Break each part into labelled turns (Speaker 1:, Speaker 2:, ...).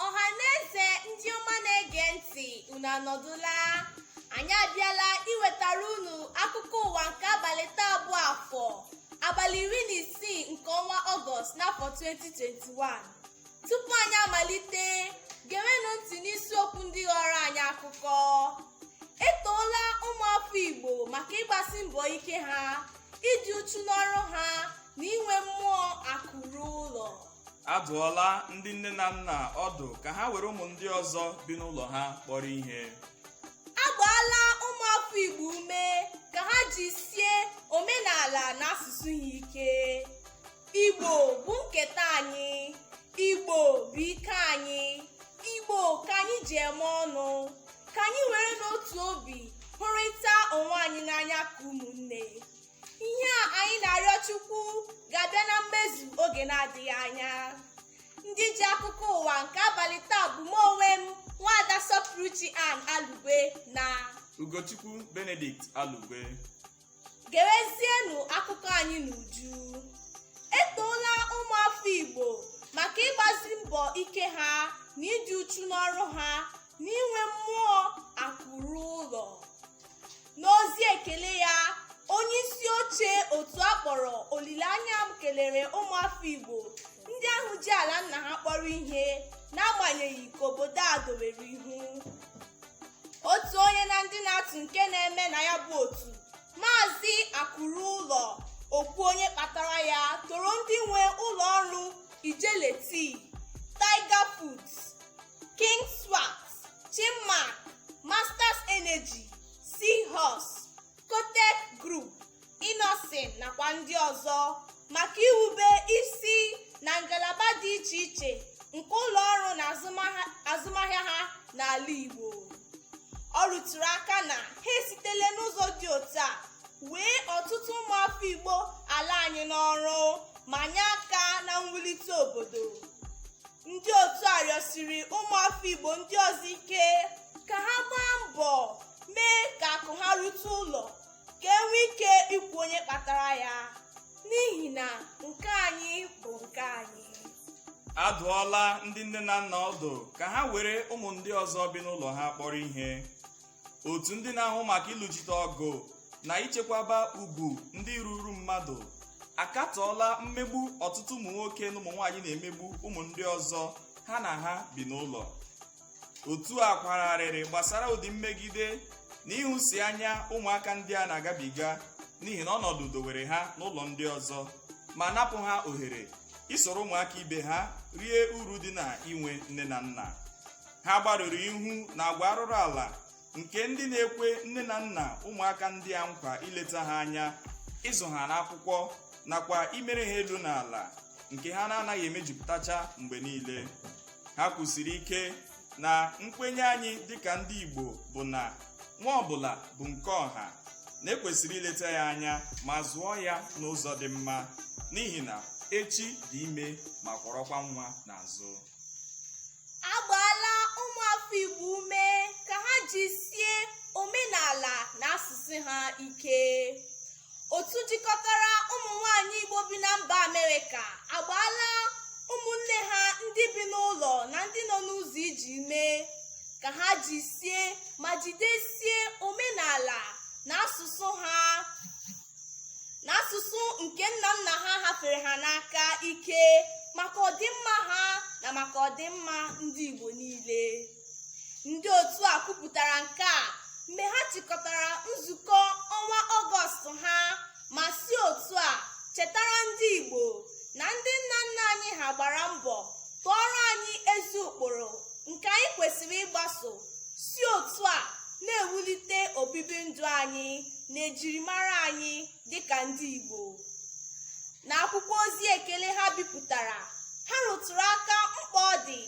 Speaker 1: ọhaneze ndị ọma na-ege ntị unu anọdụla anyị abịala iwetara unu akụkọ ụwa nke abalị taa bụ afọ abalị iri na isii nke ọnwa ọgọst n'afọ 2021 tupu anyị amalite gewenụ ntị n'isiokwu ndị ghọrọ anyị akụkọ etoola ụmụafọ igbo maka ịgbasi mbọ ike ha ịdị uchu n'ọrụ ha na inwe mmụọ akụ ruo ụlọ adụọla
Speaker 2: ndị nne na nna ọdụ ka ha were ụmụ ndị ọzọ bi n'ụlọ ha kpọrọ ihe agbaala
Speaker 1: ụmụafọ igbo ume ka ha jisie omenala na asụsụ ha ike igbo bụ nketa anyị igbo bụ ike anyị igbo ka anyị ji eme ọnụ ka anyị were n'otu obi hụrịta onwe anyị n'anya ka ụmụnne ihe a anyị na-arịọ chukwu ga-abịa na mmezu oge na-adịghị anya ndị ji akụkọ ụwa nke abalị taa bụ m onwe m nwaada sọpụrụchi ann alugwe na ugochukwu
Speaker 2: benedict alugwe
Speaker 1: gewezienụ akụkọ anyị n'uju etoola ụmụafọ igbo maka ịgbazi mbọ ike ha na ịdị uchu n'ọrụ ha na inwe mmụọ akụ ruo ụlọ n'ozi ekele ya onye isi oche otu a kpọrọ olileanya m kelere ụmụafọ igbo ndị ahụ ji ala nna ha kpọrọ ihe n'agbanyeghị ka obodo a dowere ihu otu onye na ndị na-atụ nke na-eme na ya bụ otu maazị akụ ruo ụlọ o kwuo onye kpatara ya toro ndị nwe ụlọ ọrụ ijele tea tiger foods King Swat, Chinmark, Masters Energy, Seahorse, Kotec Group, Innoson nakwa ndị ọzọ maka iwube isi na ngalaba dị iche iche nke ụlọ ọrụ na azụmahịa ha n'ala Igbo. Ọ rụtụrụ aka na ha esitela n'ụzọ dị otu a wee ọtụtụ ụmụafọ Igbo ala anyị n'ọrụ ma nye aka na mwulite obodo. ndị otu a rịọsiri ụmụafọ igbo ndị ọzọ ike ka ha gbaa mbọ mee ka akụ ha rute ụlọ ka e nwee ike ikwu onye kpatara ya n'ihi na nke anyị bụ nke anyị adụọla
Speaker 2: ndị nne na nna ọdụ ka ha were ụmụ ndị ọzọ bi n'ụlọ ha kpọrọ ihe otu ndị na-ahụ maka ịlụchite ọgụ na ichekwaba ugwu ndị ruuru mmadụ akatọọla mmegbu ọtụtụ ụmụ nwoke na ụmụ nwaanyị na-emegbu ụmụ ndị ọzọ ha na ha bi n'ụlọ otu a kwara arịrị gbasara ụdị mmegide na ịhụsi anya ụmụaka ndị a na-agabiga n'ihi na ọnọdụ dowere ha n'ụlọ ndị ọzọ ma napụ ha ohere isoro ụmụaka ibe ha rie uru dị na inwe nne na nna ha gbarụrụ ihu na agwa arụrụ ala nke ndị na-ekwe nne na nna ụmụaka ndị a nkwa ileta ha anya ịzụ ha n'akwụkwọ nakwa imere ha elu na ala nke ha na-anaghị emejupụtacha mgbe niile ha kwusiri ike na nkwenye anyị dịka ndị Igbo bụ na nwa ọbụla bụ nke ọha na ekwesịrị ileta ya anya ma zụọ ya n'ụzọ dị mma n'ihi na echi dị ime ma kwọrọkwa nwa n'azụ
Speaker 1: a gbaala ụmụafọ Igbo ume ka ha jisie omenala na asụsụ ha ike otu jikọtara ụmụ nwanyị Igbo bi na mba Amerịka agbaala ụmụnne ha ndị bi n'ụlọ na ndị nọ n'ụzọ ije ume ka ha jisie ma jidesie omenala na asụsụ ha na asụsụ nke nna nna ha hafere ha n'aka ike maka ọdịmma ha na maka ọdịmma ndị Igbo niile ndị otu a kwupụtara nke a mgbe ha chịkọtara nzukọ ọnwa ọgọst ha ma si otu a chetara ndị Igbo na ndị nna nna anyị ha gbara mbọ tụọrọ anyị ezi ụkpụrụ nke anyị kwesịrị ịgbaso si otu a na-ewulite obibi ndụ anyị na ejirimara anyị dịka ndị Igbo n'akwụkwọ ozi ekele ha bipụtara ha rụtụrụ aka mkpa ọ dị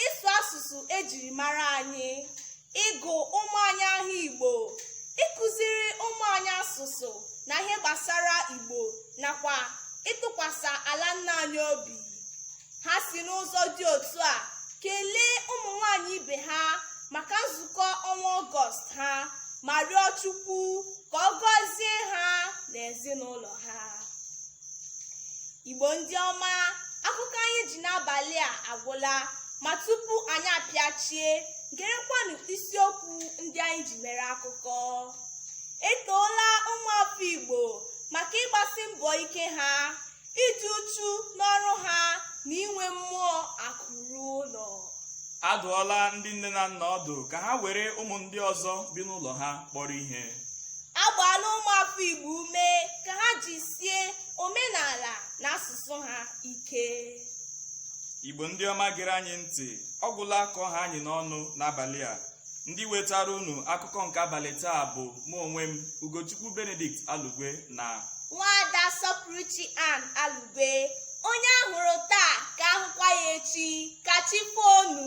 Speaker 1: ịsụ asụsụ ejiri mara anyị ịgụ ụmụ anyị aha Igbo ịkụziri ụmụ anyị asụsụ na ihe gbasara Igbo nakwa ịtụkwasị ala nna anyị obi ha si n'ụzọ dị otu a kelee ụmụ nwanyị ibe ha maka nzukọ ọnwa ọgọst ha ma rịọ chukwu ka ọ gọzie ha na ezinụlọ ha igbo ndị ọma akụkọ anyị ji n'abalị a agwụla ma tupu anyị apịachie gerekwanụ isiokwu ndị anyị ji mere akụkọ e toola ụmụafọ igbo maka ịgbasi mbọ ike ha ịdị uchu n'ọrụ ha na inwe mmụọ akụ ruo ụlọ a
Speaker 2: dụọla ndị nne na nna ọdụ ka ha were ụmụ ndị ọzọ bi n'ụlọ ha kpọrọ ihe a
Speaker 1: gbaala ụmụafọ igbo ume ka ha jisie omenala na asụsụ ha
Speaker 2: ike igbo ndị ọma gere anyị ntị ọ gwụla ka ọ ha anyị n'ọnụ n'abalị a ndị wetara unu akụkọ nke abalị taa bụ mụ onwe m ugochukwu benedict alugwe na nwaada
Speaker 1: sọpụrụchi ann alugwe onye a hụrụ taa ka a hụkwa ya echi ka chi fo nụ